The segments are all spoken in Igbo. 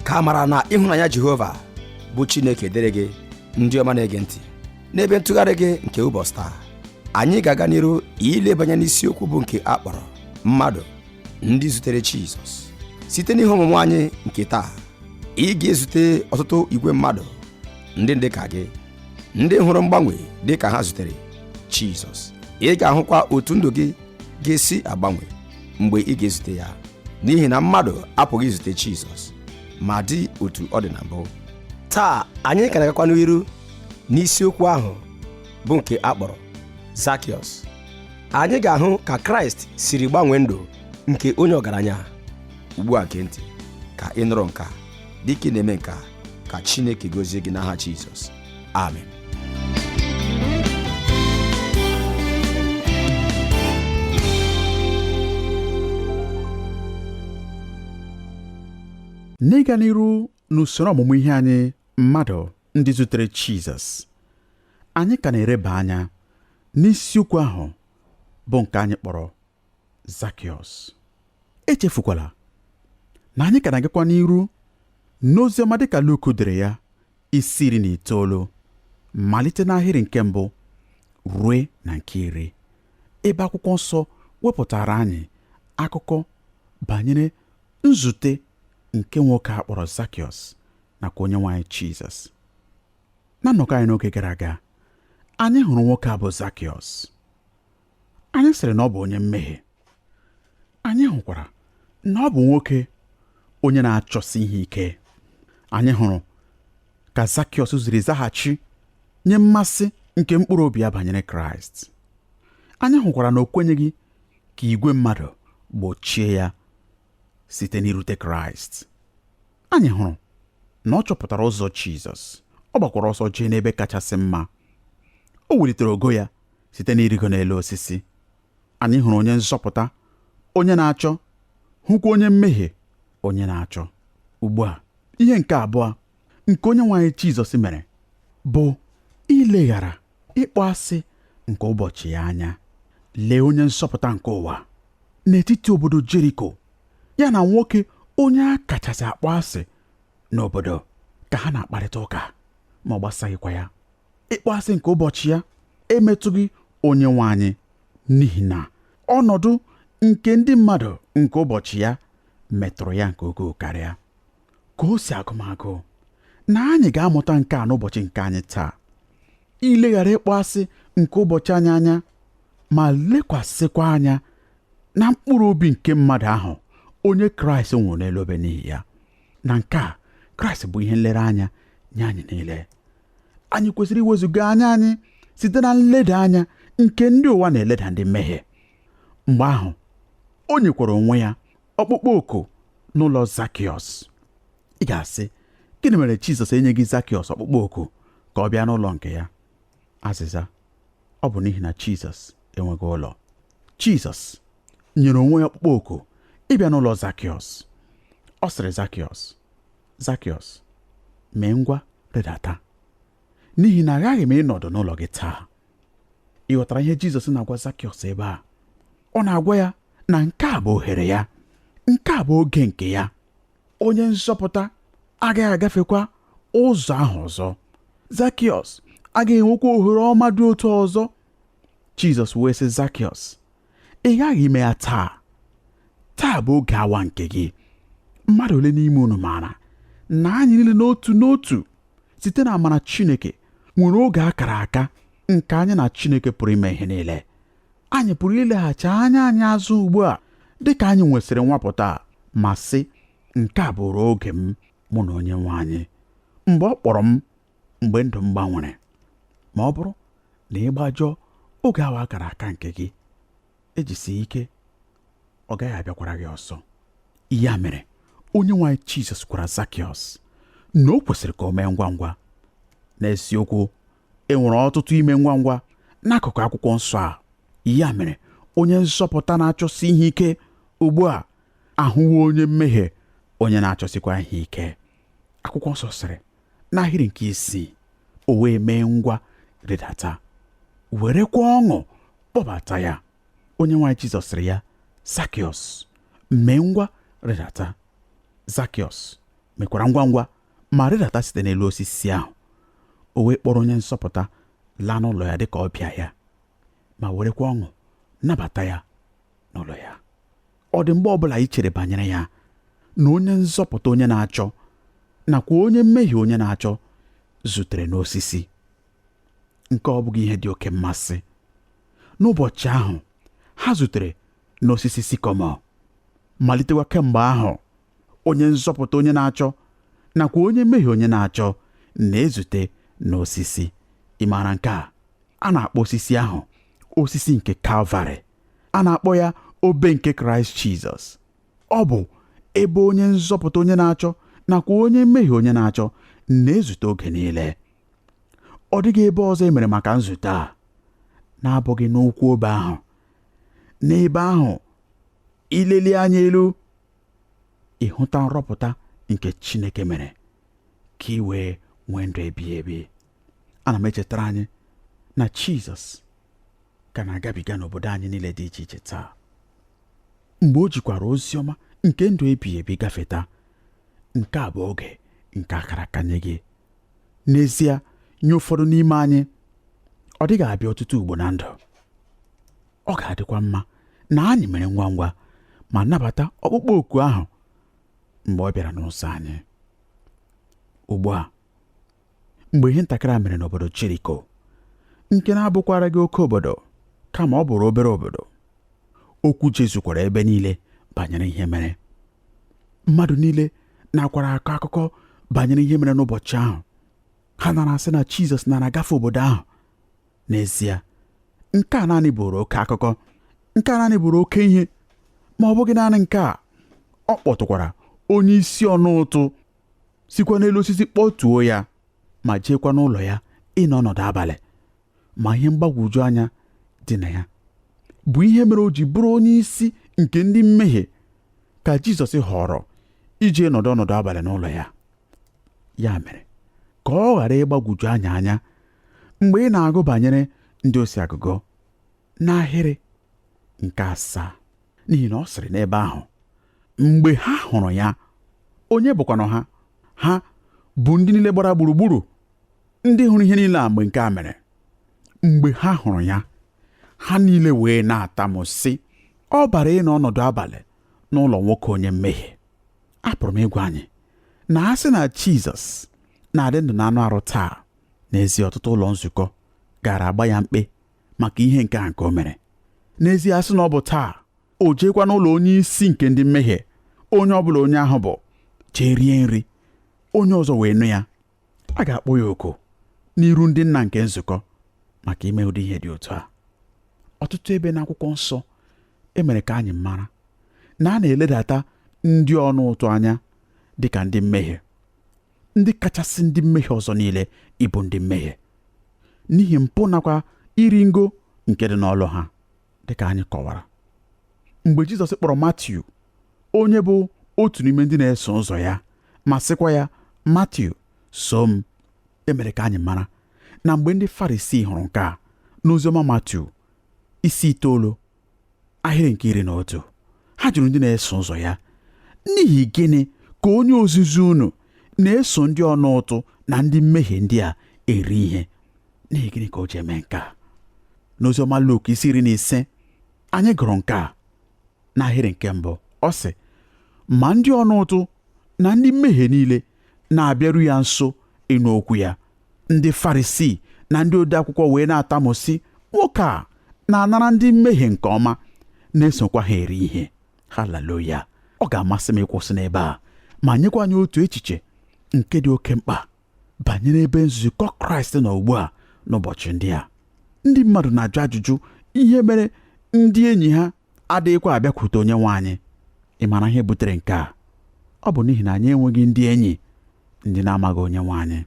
ka amara na ịhụnanya jehova bụ chineke dịrị gị ndị ọma na-ege ntị n'ebe ntụgharị gị nke ụbọchị taa anyị ga-aga n'iru ilebanye n'isiokwu bụ nke a kpọrọ mmadụ ndị zutere jizọs site n'ihe ọmụmụ anyị nke taa ị ga-ezute ọtụtụ igwe mmadụ ndị dị ka gị ndị hụrụ mgbanwe dị ka ha zutere jizọs ị ga-ahụkwa otu ndụ gị ga-esi agbanwe mgbe ị ga-ezute ya n'ihi na mmadụ apụghị izute Jizọs ma dị otu ọ dị na mbụ taa anyị ka na-agakwa n'iru n'isiokwu ahụ bụ nke a kpọrọ Zakiọs anyị ga-ahụ ka Kraịst siri gbanwee ndụ nke onye ọgaranya ugbu a gee ntị ka ị nụrụ nke a dịka ị na-eme nke a ka Chineke gozie gị n'aha Jizọs Amen. n'ịga n'iru n'usoro ọmụmụ ihe anyị mmadụ ndị zutere Jizọs anyị ka na-ereba anya n'isiokwu ahụ bụ nke anyị kpọrọ Zakiọs. Echefukwala na anyị ka na-agakwa n'iru n'oziọma dịka Luk dere ya isi iri na itoolu malite n'ahịrị nke mbụ rue na nke iri ebe akwụkwọ nsọ wepụtaara anyị akụkọ banyere nzute nke nwoke a kpọrọ Zakiọs nakwa onye nwe anyị Jizọs na nnọkọ anyị n'oge gara aga anyị hụrụ nwoke a bụ Zakiọs anyị sịrị na ọ bụ onye mmehie anyị hụkwara na ọ bụ nwoke onye na-achọsi ihe ike anyị hụrụ ka Zakiọs siri zaghachi nye mmasị nke mkpụrụ obi ya banyere Kraịst anyị hụkwara na o kwenyeghị ka igwe mmadụ gbochie ya site n'irute Kraịst anyị hụrụ na ọ chọpụtara ụzọ Jizọs ọ gbakwara ọsọ jee n'ebe kachasị mma o welitere ogo ya site n'irigo n'elu osisi anyị hụrụ onye nzọpụta onye na-achọ hụkwa onye mmehie onye na-achọ ugbu a ihe nke abụọ nke onye nwe anyị Jizọs mere bụ ileghara ịkpọ asị nke ụbọchị ya anya lee onye nzọpụta nke ụwa n'etiti obodo Jeriko ya na nwoke onye a kachasị akpọ asị n'obodo ka ha na-akparịta ụka ma ọ gbasaghịkwa ya ịkpọasị nke ụbọchị ya emetụghị onye nwe anyị n'ihi na ọnọdụ nke ndị mmadụ nke ụbọchị ya metụrụ ya nke ukwuu karịa ka o si agụ m agụụ na anyị ga-amụta nke a n'ụbọchị nke anyị taa ileghara ịkpọasị nke ụbọchị anyị anya ma lekwasịkwa anya na mkpụrụ obi nke mmadụ ahụ onye kraịst nwụrụ n'elu obe n'ihi ya na nke a kraịst bụ ihe nlereanya nye anyị niile anyị kwesịrị iwezuga anya anyị site na nleda anya nke ndị ụwa na-eleda ndị mmehie mgbe ahụ o nyekwara onwe ya ọkpụkpọ oku n'ụlọ zakiọs ị ga-asị gịnị mere jizọs enyeghị zakiọs ọkpụkpọ oku ka ọ bịa n'ụlọ nke ya azịza ọ bụ n'ihi na jizọs enweghị ụlọ jizọs nyere onwe ya ọkpụkpọ oku ịbịa n'ụlọ zakiọs ọ sịrị zakiọs Zakiọs, mee ngwa rịdata n'ihi na aghaghị m ịnọdụ n'ụlọ gị taa ị ghọtara ihe Jizọs na-agwa Zakiọs ebe a ọ na-agwa ya na nke a bụ ohere ya nke a bụ oge nke ya onye nzọpụta agaghị agafekwa ụzọ ahụ ọzọ Zakiọs agaghị enwekwa ohere ọma dị otu ọzọ Jizọs wee sị Zakiọs ị ghaghị ime ya taa taa bụ oge awa nke gị mmadụ ole n'ime unu maara na anyị niile n'otu n'otu site na amara Chineke nwere oge a kara aka nke anyị na Chineke pụrụ ime ihe niile anyị pụrụ ileghachi anya anyị azụ ugbu a dị ka anyị nwesịrị nwapụta ma sị nke a bụụrụ oge m mụ na onye nwe anyị mgbe ọ kpọrọ m mgbe ndụ m gbanwere ma ọ bụrụ na ị gbajọọ oge awa akara aka nke gị ejisighị ike ọ gaghị abịakwara gị ọzọ ya mere onye nwe anyị Jizọs gwara Zakiọs na o kwesịrị ka o mee ngwa ngwa n'eziokwu e nwere ọtụtụ ime ngwa ngwa n'akụkụ akwụkwọ nsọ a ya mere onye nzọpụta na-achọsi ihe ike ugbu a ahụwo onye mmehie onye na-achọsikwa ihe ike akwụkwọ nsọ sịrị n'ahịrị nke isii o wee mee ngwa rịdata werekwa ọṅụ kpọbata ya onye nwe anyị jizọs sịrị ya zakiọs mee ngwa rịdata zakiọs mekwara ngwa ngwa ma rịdata site n'elu osisi ahụ o wee kpọrọ onye nzọpụta laa n'ụlọ ya dịka ọbịa ya ma werekwa ọṅụ nabata ya n'ụlọ ya ọ dị mgbe ọbụla i chere banyere ya na onye nzọpụta onye na-achọ nakwa onye mmehie onye na-achọ zutere n'osisi nke ọ bụghị ihe dị oke mmasị n'ụbọchị ahụ ha zutere n'osisi sikọmọ malitekwa kemgbe ahụ onye nzọpụta onye na-achọ nakwa onye mmehie onye na-achọ na-ezute n'osisi ị maara nke a a na-akpọ osisi ahụ osisi nke kalvarị a na-akpọ ya obe nke kraịst jizọs ọ bụ ebe onye nzọpụta onye na-achọ nakwa onye mmehie onye na-achọ na-ezute oge niile ọ dịghị ebe ọzọ e mere maka nzute a na-abụghị n'ụkwụ obe ahụ n'ebe ahụ i lelie anya elu ị hụta nrọpụta nke Chineke mere ka ị wee nwee ndụ ebighị ebi ana m echetara anyị na Jizọs ka na-agabiga n'obodo anyị niile dị iche iche taa mgbe o jikwara ozi ọma nke ndụ ebighị ebi gafeta nke a bụ oge nke a kara aka nye gị n'ezie nye ụfọdụ n'ime anyị ọ dịghị abịa ọtụtụ ugbo na ndụ ọ ga-adịkwa mma na anyị mere ngwa ngwa ma nabata ọkpụkpọ oku ahụ mgbe ọ bịara n'ụzọ anyị ugbu a mgbe ihe ntakịrị a mere n'obodo Jeriko nke na-abụkwaraghị oke obodo kama ọ bụrụ obere obodo okwu jezukwara ebe niile banyere ihe mere mmadụ niile nakwara akọ akụkọ banyere ihe mere n'ụbọchị ahụ ha nara asị na Jizọs nara agafe obodo ahụ n'ezie nke a naanị bụrụ oke akụkọ nke a naanị bụrụ oke ihe ma ọ bụghị naanị nke a ọ kpọtụkwara onye isi ọna ụtụ sikwa n'elu osisi kpọtuo ya ma jeekwa n'ụlọ ya ịnọ ọnọdụ abalị ma ihe mgbagwoju anya dị na ya bụ ihe mere o ji bụrụ onye isi nke ndị mmehie ka Jizọs họrọ ije nọdụ ọnọdụ abalị n'ụlọ ya ya mere ka ọ ghara ịgbagwoju anyị anya mgbe ị na-agụ banyere ndị osi agụgọ n'ahịrị nke asaa n'ihi na ọ sịrị n'ebe ahụ mgbe ha hụrụ ya onye bụkwanụ ha ha bụ ndị niile gbara gburugburu ndị hụrụ ihe niile a mgbe nke a mere mgbe ha hụrụ ya ha niile wee na-atamu sị ọ bara ịnọ ọnọdụ abalị n'ụlọ nwoke onye mmehie apụrụ m ịgwa anyị na a sị na Jizọs na-adị ndụ na anụ arụ taa n'ezie ọtụtụ ụlọ nzukọ gaara agba ya mkpe maka ihe nke a nke o mere n'ezie a sị na ọ bụ taa o jeekwa n'ụlọ onye isi nke ndị mmehie onye ọ bụla onye ahụ bụ jee rie nri onye ọzọ wee nụ ya a ga-akpọ ya oku n'iru ndị nna nke nzukọ maka ime ụdị ihe dị otu a ọtụtụ ebe n'akwụkwọ nsọ e mere ka anyị mara na a na-eledata ndị ọna ụtụ anya dị ka ndị mmehie ndị kachasị ndị mmehie ọzọ niile ịbụ ndị mmehie n'ihi mpụ nakwa iri ngo nke dị n'ọlụ ha dịka anyị kọwara mgbe Jizọs kpọrọ Matiu onye bụ otu n'ime ndị na-eso ụzọ ya ma sịkwa ya Matiu soo m e mere ka anyị mara na mgbe ndị Farisii hụrụ nke a n'oziọma Matiu isi itoolu ahịrị nke iri na otu ha jụrụ ndị na-eso ụzọ ya n'ihi gịnị ka onye ozizi unu na-eso ndị ọna ụtụ na ndị mmehie ndị a eri ihe n'ihi gịnị ka o ji eme nke a n'oziọma Luk isi iri na ise anyị gụrụ nke a n'ahịrị nke mbụ ọ sị ma ndị ọna ụtụ na ndị mmehie niile na-abịaru ya nso ịnụ okwu ya ndị Farisii na ndị odeakwụkwọ wee na-atamu sị nwoke a na-anara ndị mmehie nke ọma na-esokwa ha eri ihe haleluya ọ ga-amasị m ịkwụsị n'ebe a ma nyekwa anyị otu echiche nke dị oke mkpa banyere ebe nzukọ kraịst nọ ugbu a n'ụbọchị ndị a ndị mmadụ na-ajụ ajụjụ ihe mere ndị enyi ha adịghịkwa abịakwute onye nwe anyị ị mara ihe butere nke a ọ bụ n'ihi na anyị enweghị ndị enyi ndị na-amaghị onye nwe anyị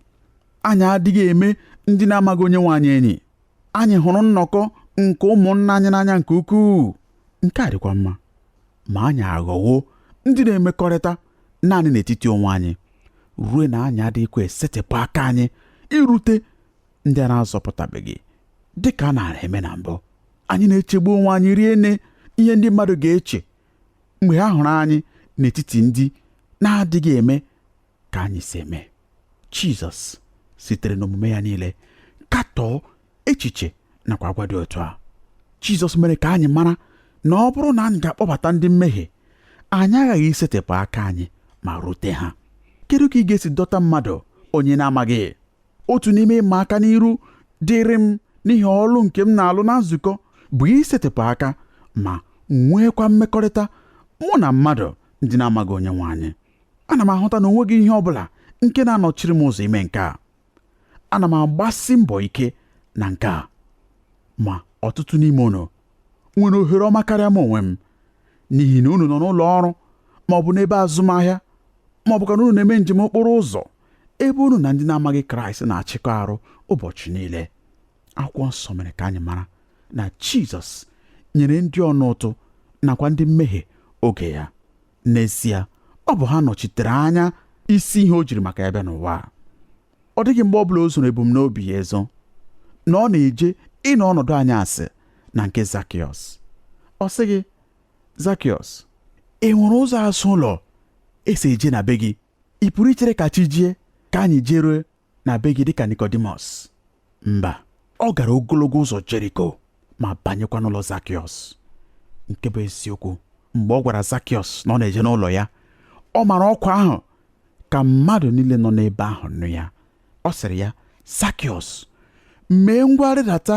anyị adịghị eme ndị na-amaghị onye nwe anyị enyi anyị hụrụ nnọkọ nke ụmụnna anyị n'anya nke ukwuu nke a dịkwa mma ma anyị aghọwo ndị na-emekọrịta naanị n'etiti onwe anyị ruo na anyị adịghịkwa esetịpụ aka anyị irute ndị a na-azọpụtabeghị dị ka a na-eme na mbụ anyị na-echegbu onwe anyị rie nne ihe ndị mmadụ ga-eche mgbe ha hụrụ anyị n'etiti ndị na-adịghị eme ka anyị si eme jizọs sitere n'omume ya niile katọọ echiche nakwa agwa dị otu a jizọs mere ka anyị mara na ọ bụrụ na anyị ga-akpọbata ndị mmehie anyị aghaghị isetịpụ aka anyị ma rute ha kedu ka ị ga-esi dọta mmadụ onye na-amaghị otu n'ime ịma aka n'iru dịrị m n'ihi ọlụ nke m na-alụ na nzukọ bụ isetịpụ aka ma nweekwa mmekọrịta mụ na mmadụ ndị na-amaghị onye nwe anyị ana m ahụta na o nweghị ihe ọ bụla nke na-anọchiri m ụzọ ime nke a ana m agbasi mbọ ike na nke a ma ọtụtụ n'ime unu nwere ohere ọma karịa m onwe m n'ihi na unu nọ n'ụlọ ọrụ ma ọ bụ n'ebe azụmahịa ma ọ bụkwa na unu na-eme njem okporo ụzọ ebe unu na ndị na-amaghị Kraịst na-achịkọ arụ ụbọchị niile akwụkwọ nsọ mere ka anyị mara na jizọs nyere ndị ọna ụtụ nakwa ndị mmehie oge ya n'ezie ọ bụ ha nọchitere anya isi ihe o jiri maka ya bịa n'ụwa ọ dịghị mgbe ọ bụla o zoro ebumnobi ya ezo na ọ na-eje ịnọ ọnọdụ anyasị na nke zakiọs ọ sịghị zakiọs e nwere ụzọ azụ ụlọ e si eje na be gị ị pụrụ ichere ka chi jie ka anyị jerue na be gị dịka Nikọdimọs mba ọ gara ogologo ụzọ Jeriko ma banyekwa n'ụlọ Zakiọs nke bụ eziokwu mgbe ọ gwara Zakiọs na ọ na-eje n'ụlọ ya ọ mara ọkwa ahụ ka mmadụ niile nọ n'ebe ahụ nụ ya ọ sịrị ya zakiọs mee ngwa rịdata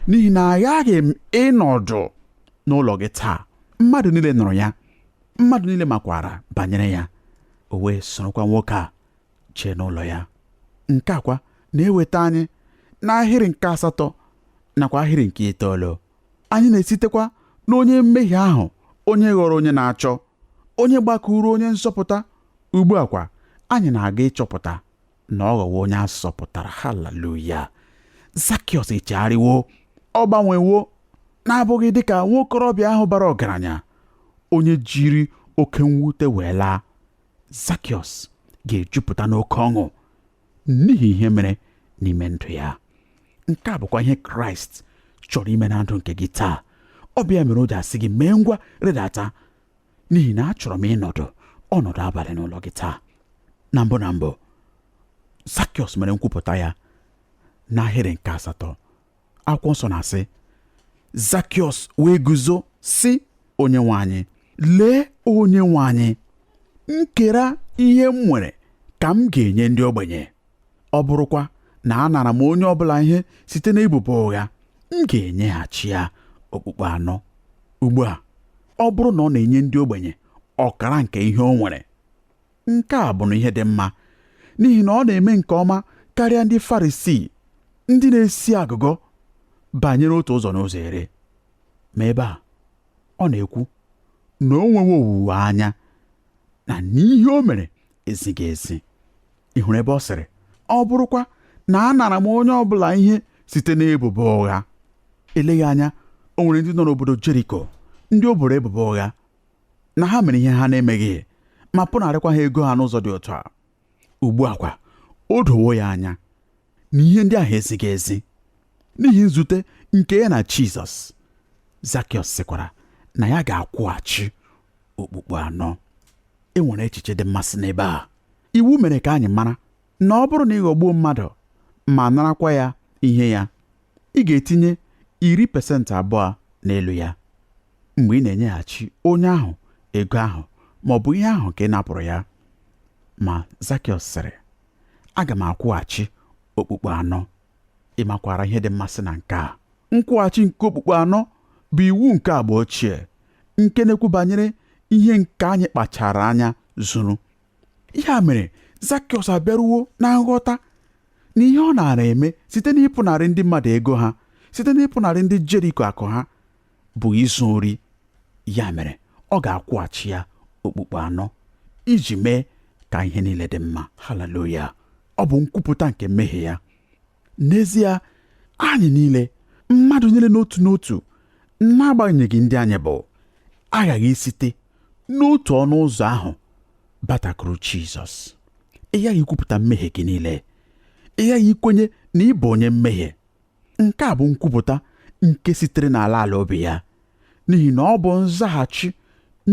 n'ihi na aghaghị m ịnọdụ n'ụlọ gị taa mmadụ niile nụrụ ya mmadụ niile makwara banyere ya o wee sorokwa nwoke a jee n'ụlọ ya nke a kwa na-eweta anyị n'ahịrị nke asatọ nakwa ahịrị nke itoolu anyị na-esitekwa n'onye mmehie ahụ onye ghọrọ onye na-achọ onye gbakuru onye nzọpụta ugbu a kwa anyị na-aga ịchọpụta na ọ ghọwo onye a zọpụtara haleluya zakiọs echegharịwo ọ gbanwewo na-abụghị dị ka nwa okorobịa ahụ bara ọgaranya onye jiri oke mwute wee laa zakiọs ga-ejupụta n'oke ọṅụ n'ihi ihe mere n'ime ndụ ya nke a bụkwa ihe kraịst chọrọ ime na ndụ nke gị taa ọ bụ ya mere o ji asị gị mee ngwa rịdata n'ihi na achọrọ m ịnọdụ ọnọdụ abalị n'ụlọ gị taa na mbụ na mbụ Zakiọs mere nkwupụta ya n'ahịrị nke asatọ akwụkwọ nsọ na-asị Zakiọs wee guzo sị onye nwe anyị lee onye nwe anyị nkera ihe m nwere ka m ga-enye ndị ogbenye ọ bụrụkwa na anara m onye ọbụla ihe site n'ebubo ụgha m ga-enyeghachi ya okpukpu anọ ugbu a ọ bụrụ na ọ na-enye ndị ogbenye ọkara nke ihe o nwere nke a bụnụ ihe dị mma n'ihi na ọ na-eme nke ọma karịa ndị farisii ndị na-esi agụgọ banyere otu ụzọ n'ụzọ iri ma ebe a ọ na-ekwu na o nwewo owuwe anya na n'ihe o mere ezighị ezi ị hụrụ ebe ọ sịrị ọ bụrụkwa na anara m onye ọ bụla ihe site n'ebubo ụgha eleghị anya o nwere ndị nọ n'obodo Jeriko ndị o boro ebubo ụgha na ha mere ihe ha na-emeghị ma pụnarịkwa ha ego ha n'ụzọ dị otu a ugbu a kwa o dowo ya anya na ihe ndị ahụ ezighị ezi n'ihi nzute nke ya na Jizọs Zakiọs sịkwara na ya ga-akwụghachi okpukpu anọ e nwere echiche dị mmasị n'ebe a iwu mere ka anyị mara na ọ bụrụ na ị ghọgbuo mmadụ ma narakwa ya ihe ya ị ga-etinye iri pasentị abụọ n'elu ya mgbe ị na-enyeghachi onye ahụ ego ahụ ma ọ bụ ihe ahụ ka ị napụrụ ya ma Zakiọs sịrị aga m akwụghachi okpukpu anọ ị makwara ihe dị mmasị na nke a nkwụghachi nke okpukpu anọ bụ iwu nke agba ochie nke na-ekwu banyere ihe nke anyị kpachara anya zuru ya mere zakiọs abịaruwo na nghọta na ihe ọ naara eme site n'ịpụnarị ndị mmadụ ego ha site n'ịpụnarị ndị jeriko akụ ha bụ izu ori ya mere ọ ga-akwụghachi ya okpukpu anọ iji mee ka ihe niile dị mma haleluya ọ bụ nkwupụta nke mmehie ya n'ezie anyị niile mmadụ niile n'otu n'otu n'agbanyeghị ndị anyị bụ aghaghị isite n'otu ọnụ ụzọ ahụ batakwuru Jizọs ị ghaghị ikwupụta mmehie gị niile ị ghaghị ikwenye na ị bụ onye mmehie nke a bụ nkwupụta nke sitere n'ala ala obi ya n'ihi na ọ bụ nzaghachi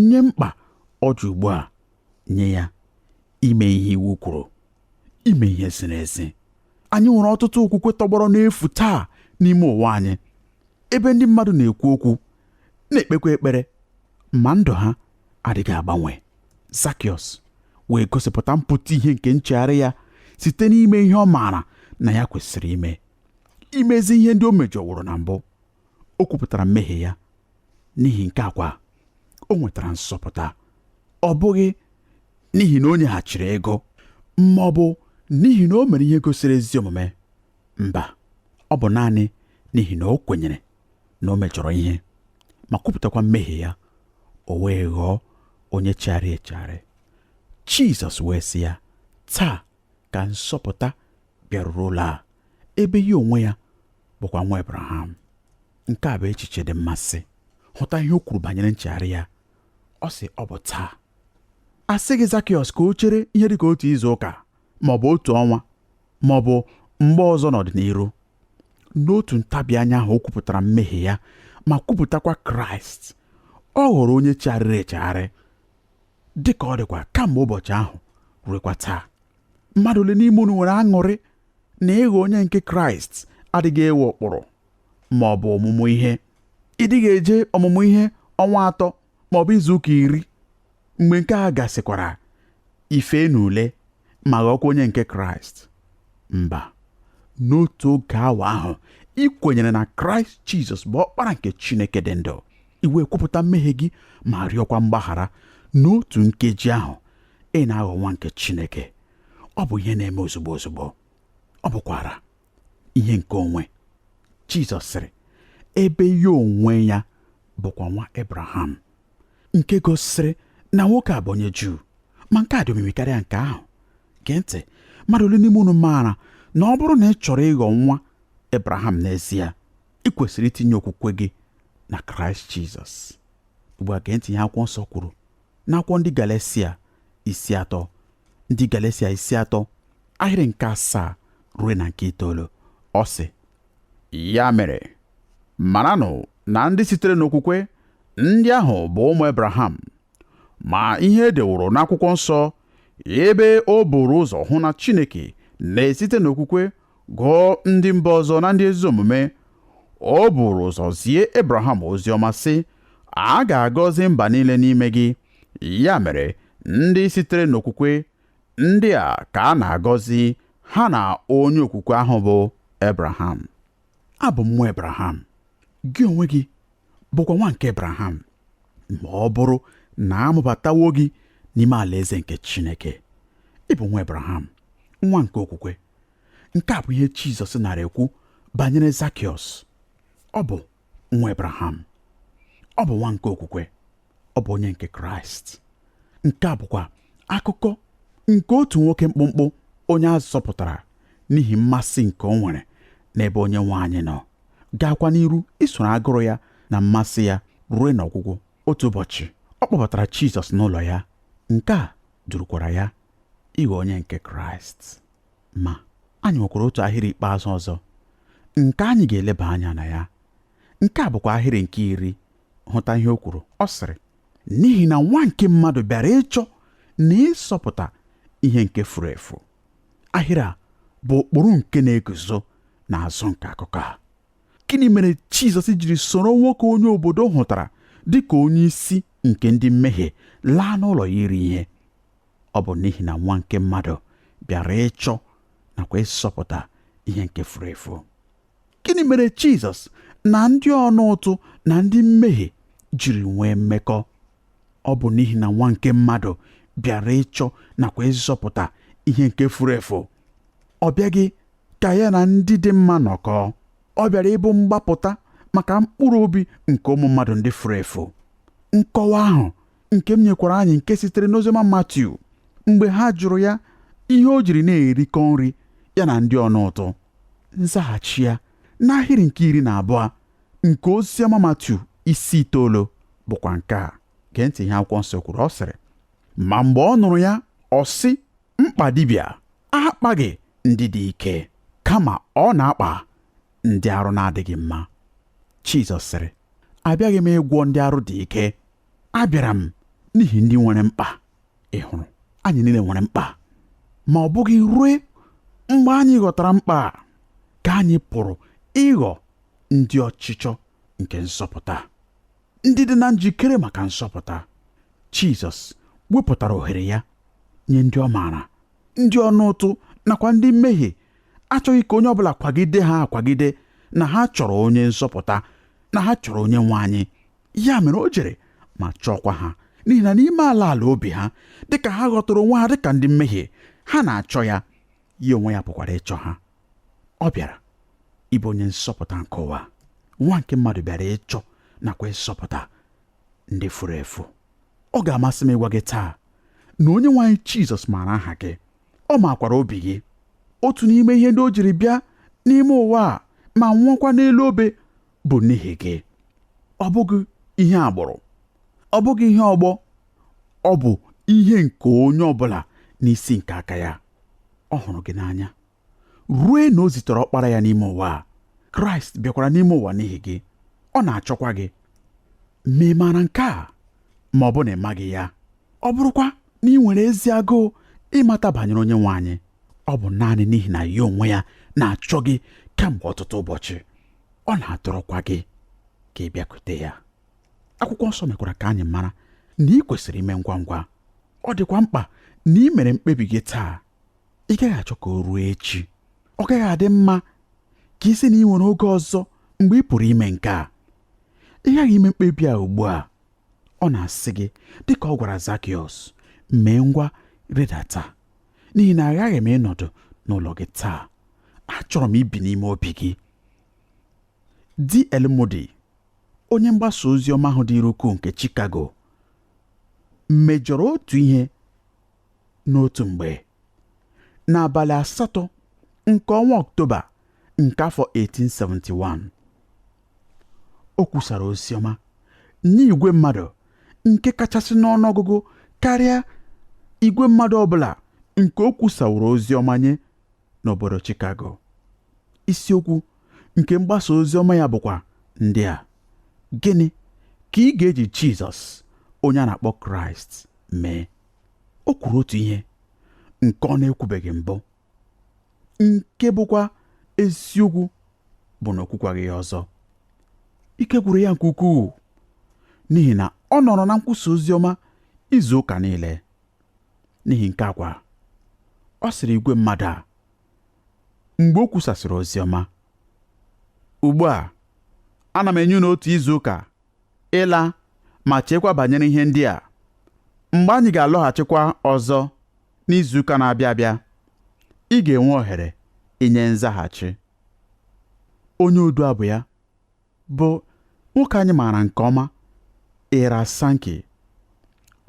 nye mkpa ọ dị ugbu a nye ya ime ihe iwu kwuru ime ihe ziri ezi anyị nwere ọtụtụ okwukwe tọgbọrọ n'efu taa n'ime ụwa anyị ebe ndị mmadụ na-ekwu okwu na-ekpekwa ekpere ma ndụ ha adịghị agbanwe Zakiọs wee gosipụta mpụta ihe nke nchegharị ya site n'ime ihe ọ maara na ya kwesịrị ime imezi ihe ndị o mejọworo na mbụ o kwupụtara mmehie ya n'ihi nke a kwa o nwetara nzọpụta ọ bụghị n'ihi na o nyeghachiri ego ma ọ bụ n'ihi na o mere ihe gosiri ezi omume mba ọ bụ naanị n'ihi na o kwenyere na o mejọrọ ihe ma kwupụtakwa mmehie ya o wee ghọọ onye chegharị echegharị Jizọs wee sị ya taa ka nzọpụta bịaruru ụlọ a ebe ya onwe ya bụkwa nwa Abraham nke a bụ echiche dị mmasị hụta ihe o kwuru banyere nchegharị ya ọ sị ọ bụ taa a sịghị Zakiọs ka o chere ihe dị ka otu izu ụka ma ọ bụ otu ọnwa ma ọ bụ mgbe ọzọ n'ọdịnihu n'otu ntabi anya ahụ o kwupụtara mmehie ya ma kwupụtakwa Kraịst ọ ghọrọ onye chegharịrị echegharị dị ka ọ dịkwa kamgbe ụbọchị ahụ ruekwa taa mmadụ ole n'ime unu nwere aṅụrị na ịghọ onye nke kraịst adịghị ewe ụkpụrụ ma ọ bụ ọmụmụ ihe ị dịghị eje ọmụmụ ihe ọnwa atọ ma ọ bụ izuụka iri mgbe nke a gasịkwara i fee n'ule ma ghọọkwa onye nke kraịst mba n'otu oge awa ahụ i kwenyere na kraịst jizọs bụ ọkpara nke chineke dị ndụ i wee kwupụta mmehie gị ma rịọkwa mgbaghara n'otu nkeji ahụ ị na-aghọ nwa nke Chineke ọ bụ ihe na-eme ozugbo ozugbo ọ bụkwara ihe nke onwe Jizọs sịrị ebe ya onwe ya bụkwa nwa Abraham nke gosiri na nwoke a bụ onye Juu ma nke a dị omimi karịa nke ahụ gee ntị mmadụ ole n'ime unu maara na ọ bụrụ na ị chọrọ ịghọ nwa Abraham n'ezie ị kwesịrị itinye okwukwe gị na kraịst jizọs ugbu a gee ntị ihe akwụkwọ nsọ kwuru n'akwụkwọ ndị galesia isi atọ ndị galesia isi atọ ahịrị nke asaa ruo na nke itoolu ọ sị ya mere maranụ na ndị sitere n'okwukwe ndị ahụ bụ ụmụ ebraham ma ihe e deworo n'akwụkwọ nsọ ebe o buru ụzọ hụ na Chineke na-esite n'okwukwe gụọ ndị mba ọzọ na ndị ezi omume o buru ụzọ zie Ebraham ozi ọma sị a ga-agọzi mba niile n'ime gị ya mere ndị sitere n'okwukwe ndị a ka a na-agọzi ha na onye okwukwe ahụ bụ Ebraham abụ m nwa Ebraham gị onwe gị bụkwa nwa nke Ebraham ma ọ bụrụ na a mụbatawo gị n'ime alaeze nke Chineke ị bụ nwa Ebraham nwa nke okwukwe nke a bụ ihe Jizọs nara ekwu banyere Zakiọs ọ bụ nwa Ebraham ọ bụ nwa nke okwukwe ọ bụ onye nke kraịst nke a bụkwa akụkọ nke otu nwoke mkpụmkpụ onye a zọpụtara n'ihi mmasị nke o nwere n'ebe onye nwe anyị nọ gaakwa n'iru isoro agụrụ ya na mmasị ya ruo n'ọgwụgwụ otu ụbọchị ọ kpọbatara Jizọs n'ụlọ ya nke a durukwara ya ịghọ onye nke Kraịst ma anyị nwekwara otu ahịrị ikpeazụ ọzọ nke anyị ga-eleba anya na ya nke a bụkwa ahịrị nke iri hụta ihe o kwuru ọ sịrị n'ihi na nwa nke mmadụ bịara ịchọ na ịzọpụta ihe nke furu efu ahịrị a bụ ụkpụrụ nke na-eguzo n'azụ nke akụkọ a gịnị mere jizọs jiri soro nwoke onye obodo hụtara dị ka onye isi nke ndị mmehie laa n'ụlọ ya iri ihe ọ bụ n'ihi na nwa nke mmadụ bịara ịchọ nakwa ịzọpụta ihe nke furu efu gịnị mere jizọs na ndị ọna ụtụ na ndị mmehie jiri nwee mmekọ ọ bụ n'ihi na nwa nke mmadụ bịara ịchọ nakwa ịzọpụta ihe nke furu efu ọ bịaghị ka ya na ndị dị mma nọkọọ ọ bịara ịbụ mgbapụta maka mkpụrụ obi nke ụmụ mmadụ ndị furu efu nkọwa ahụ nke m nyekwara anyị nke sitere n'oziọma Matiu mgbe ha jụrụ ya ihe o jiri na-erikọ nri ya na ndị ọna ụtụ Nzaghachi ya n'ahịrị nke iri na abụọ nke Oziọma Matiu isi itoolu bụkwa nke a. Gee ntị ihe akwụkwọ nsọ kwuru ọ sịrị ma mgbe ọ nụrụ ya ọ sị mkpa dibịa akpaghị ndị dị ike kama ọ na-akpa ndị arụ na-adịghị mma Jizọs sịrị abịaghị m ịgwọ ndị arụ dị ike abịara m n'ihi ndị nwere mkpa ị hụrụ anyị niile nwere mkpa ma ọ bụghị rue mgbe anyị ghọtara mkpa a ka anyị pụrụ ịghọ ndị ọchịchọ nke nzọpụta ndị dị na njikere maka nzọpụta Jizọs wepụtara ohere ya nye ndị ọ maara ndị ọnụ ụtụ nakwa ndị mmehie achọghị ka onye ọbụla kwagide ha akwagide na ha chọrọ onye nzọpụta na ha chọrọ onye nwe anyị ya mere o jere ma chọọkwa ha n'ihi na n'ime ala ala obi ha dịka ha ghọtara onwe ha dịka ndị mmehie ha na-achọ ya ya onwe ya pụkwara ịchọ ha ọ bịara ịbụ onye nzọpụta nke ụwa nwa nke mmadụ bịara ịchọ nakwa ịzọpụta ndị furu efu ọ ga-amasị m ịgwa gị taa na onye nwe anyị Jizọs maara aha gị ọ makwara obi gị otu n'ime ihe ndị o jiri bịa n'ime ụwa a ma nwụọkwa n'elu obe bụ n'ihi gị ọ bụghị ihe agbụrụ ọ bụghị ihe ọgbọ ọ bụ ihe nke onye ọbụla n'isi nke aka ya ọ hụrụ gị n'anya rue na o zitere ọkpara ya n'ime ụwa a kraịst bịakwara n'ime ụwa n'ihi gị ọ na-achọkwa gị ma ị maara nke a ma ọ bụ na ị maghị ya ọ bụrụkwa na ị nwere ezi agụụ ịmata banyere onye nwe anyị ọ bụ naanị n'ihi na ya onwe ya na-achọ gị kemgbe ọtụtụ ụbọchị ọ na-adọrọkwa gị ka ị bịakute ya akwụkwọ nsọ mekwara ka anyị mara na ị kwesịrị ime ngwa ngwa ọ dịkwa mkpa na ị mere mkpebi gị taa ị gaghị achọ ka o ruo echi ọ gaghị adị mma ka ị sị na ị nwere oge ọzọ mgbe ị pụrụ ime nke a ị ghaghị ime mkpebi a ugbu a ọ na-asị gị dịka ọ gwara Zakiọs mee ngwa rịdata n'ihi na aghaghị m ịnọdụ n'ụlọ gị taa achọrọ m ibi n'ime obi gị D.L. Moody onye mgbasa ozi ọma ahụ dịrị ukwuu nke Chicago mejọrọ otu ihe n'otu mgbe n'abalị asatọ nke ọnwa Ọktoba nke afọ 1871 O kwusara ozi ọma nye igwe mmadụ nke kachasị n'ọnụọgụgụ karịa igwe mmadụ ọbụla nke o kwusaworo ozi ọma nye n'obodo Chicago. Isiokwu nke mgbasa ozi ọma ya bụkwa ndị a gịnị ka ị ga-eji Jizọs onye a na-akpọ Kraịst mee o kwuru otu ihe nke ọ na-ekwubeghị mbụ nke bụkwa eziokwu bụ na o kwukwaghị ya ọzọ ike gwụrụ ya nke ukwuu n'ihi na ọ nọrọ na nkwusa ozi ọma izu ụka niile n'ihi nke a kwa ọ sịrị igwe mmadụ a mgbe o kwusasịrị ozi ọma ugbu a ana m enye unu otu izu ụka ịla ma cheekwa banyere ihe ndị a mgbe anyị ga-alọghachikwa ọzọ N'izuụka na-abịa abịa, ị ga-enwe ohere inye nzaghachi. Onye odu abụ ya bụ nwoke anyị maara nke ọma Ira Sankey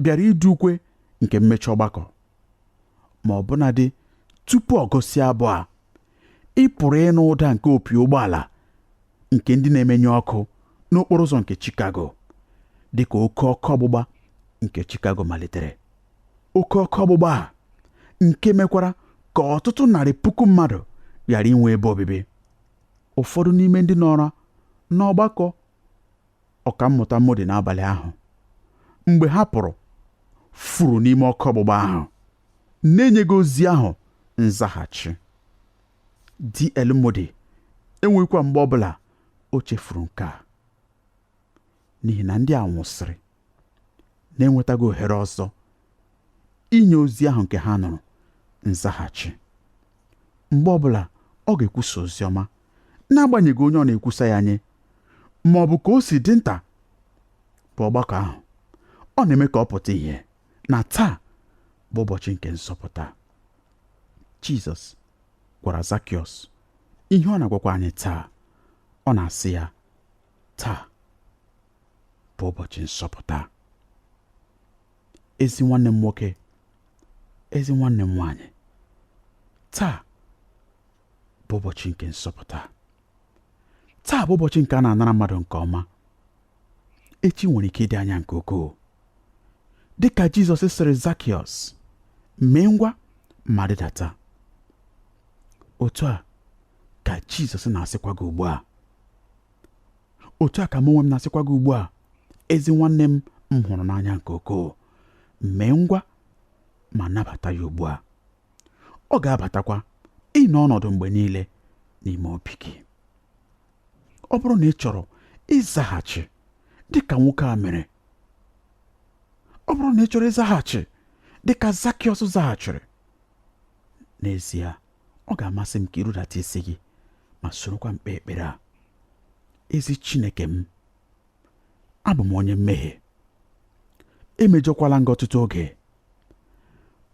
bịara idu ukwe nke mmechi ọgbakọ. Ma ọbụnadị tupu ọ gụsịa abụ a, ị pụrụ ịnụ ụda nke opi ụgbọala nke ndị na-emenye ọkụ n'okporo ụzọ nke Chicago dị ka oke ọkụ ọgbụgba nke Chicago malitere. oke ọkụ ọgbụgba a nke mekwara ka ọtụtụ narị puku mmadụ ghara inwe ebe obibi ụfọdụ n'ime ndị nọrọ n'ọgbakọ ọkammụta Moody n'abalị ahụ mgbe ha pụrụ furu n'ime ọkụ ọgbụgba ahụ na-enyeghị ozi ahụ nzaghachi DL Moody enweghịkwa mgbe ọbụla o chefuru nke a n'ihi na ndị a nwụsịrị na-enwetaghị ohere ọzọ inye ozi ahụ nke ha nụrụ nzaghachi mgbe ọbụla ọ ga-ekwusa ozi ọma n'agbanyeghị onye ọ na-ekwusa ya nye ma ọ bụ ka o si dị nta bụ ọgbakọ ahụ ọ na-eme ka ọ pụta ihe na taa bụ ụbọchị nke nzọpụta Jizọs gwara Zakiọs ihe ọ na-agwakwa anyị taa ọ na-asị ya taa bụ ụbọchị nzọpụta ezi nwanne m nwoke ezi nwanne m nwaanyị taa bụ ụbọchị nke nzọpụta taa bụ ụbọchị nke a na-anara mmadụ nke ọma echi nwere ike ịdị anya nke ukwuu dị ka jizọs sịrị zakiọs mee ngwa ma rịdata otu a ka jizọs na-asịkwa gị ugbu a otu a ka mụ onwe m na-asịkwa gị ugbu a ezi nwanne m m hụrụ n'anya nke ukwuu mee ngwa ma nabata ya ugbu a ọ ga-abatakwa ịnọ ọnọdụ mgbe niile n'ime obi gị ọ bụrụ na ị chọrọ ịzaghachi dị ka nwoke a mere ọ bụrụ na ị chọrọ ịzaghachi dị ka Zakiọs zaghachiri n'ezie ọ ga-amasị m ka i rudata isi gị ma sorokwa m kpee ekpere a ezi Chineke m abụ m onye mmehie emejọkwala m gị ọtụtụ oge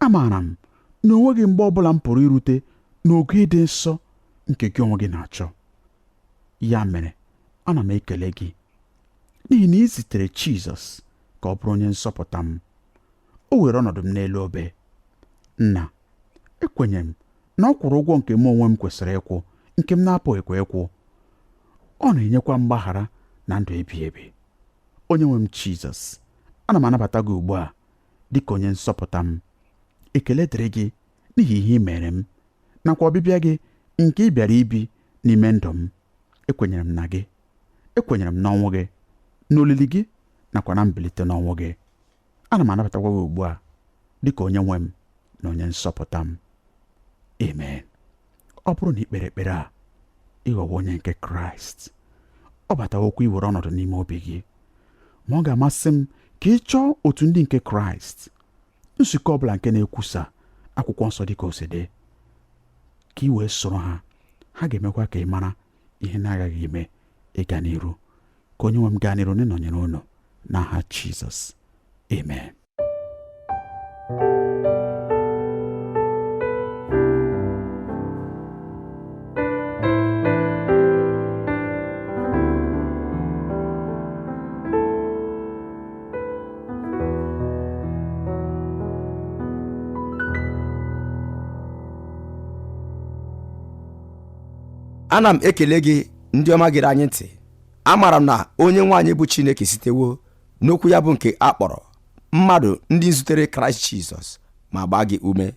amaara m na o nweghị mgbe ọbụla m pụrụ irute n'ogo ịdị nsọ nke gị onwe gị na-achọ ya mere ana m ekele gị n'ihi na i zitere Jizọs ka ọ bụrụ onye nzọpụta m o were ọnọdụ m n'elu obe nna ekwenyere m na ọ kwụrụ ụgwọ nke mụ onwe m kwesịrị ịkwụ nke m na-apụghịkwa ịkwụ ọ na-enyekwa mgbaghara na ndụ ebighị ebi onye nwe m jizọs ana m anabata gị ugbu a dị ka onye nzọpụta m ekele dịrị gị n'ihi ihe i meere m nakwa ọbịbịa gị nke ị bịara ibi n'ime ndụ m ekwenyere m na gị ekwenyere m n'ọnwụ gị n'olili gị nakwa na mbilite n'ọnwụ gị ana m anabatakwa gị ugbu a dị ka onye nwe m na onye nzọpụta m amen ọ bụrụ na i kpere ekpere a ị ghọwo onye nke kraịst ọ batawokwa iwere ọnọdụ n'ime obi gị ma ọ ga-amasị m ka ị chọọ otu ndị nke kraịst nzukọ ọbụla nke na-ekwusa akwụkwọ nsọ dị ka o si dị ka i wee soro ha ha ga-emekwa ka ị mara ihe na-agaghị ime ịga n'iru ka onye nwe m gaa n'iru n'ịnọnyere unu n'aha Jizọs amen ana m ekele gị ndị ọma gere anyị ntị amaara m na onye nwe anyị bụ chineke sitewo n'okwu ya bụ nke a kpọrọ mmadụ ndị zutere kraịst jizọs ma gbaa gị ume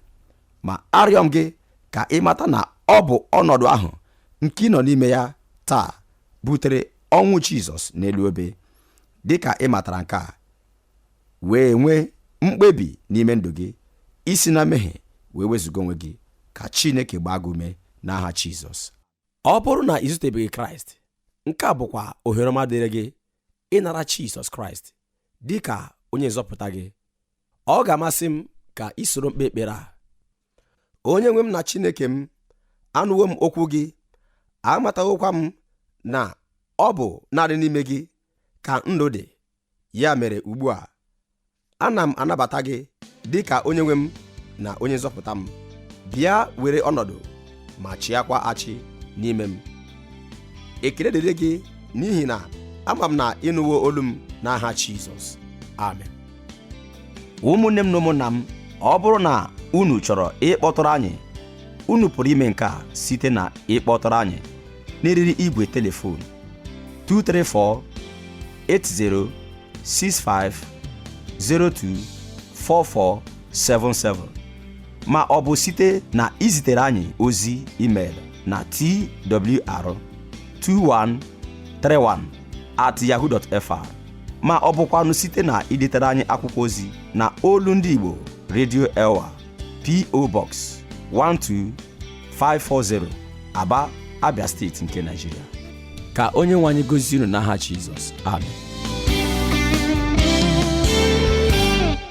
ma arịọ m gị ka ị mata na ọ bụ ọnọdụ ahụ nke ị nọ n'ime ya taa butere ọnwụ jizọs n'elu obe dị ka ị matara nke a wee nwee mkpebi n'ime ndụ gị isi na mmehie wee wezụga onwe gị ka chineke gbaa gị ume n'aha jizọs ọ bụrụ na i zutebeghị kraịst nke a bụkwa ohere ọma dịrị gị ịnara jizọs kraịst dị ka onye nzọpụta gị ọ ga-amasị m ka i soro m kpee ekpere a onye nwe m na chineke m anụwo m okwu gị amatawokwa m na ọ bụ naanị n'ime gị ka ndụ dị ya mere ugbu a ana m anabata gị dị ka onye nwe m na onye nzọpụta m bịa were ọnọdụ ma chịakwa achị n'ime m ekele dịrị gị n'ihi na ama m na ị nụwo olu m n'aha Jizọs amen ụmụnne m na ụmụnna m ọ bụrụ na unu chọrọ ịkpọtụrụ anyị unu pụrụ ime nke a site na ịkpọtụrụ anyị n'eriri igwe telefon 234 8065024477 ma ọ bụ site na izitere anyị ozi email na twr2131 at yahoo.fr ma ọ bụkwanụ site na idetere anyị akwụkwọ ozi na olu ndị Igbo Radio Elwa PO Box 12540 Aba Abia steeti nke Nigeria ka onye nwe anyị gọzie unu n'aha Jizọs amen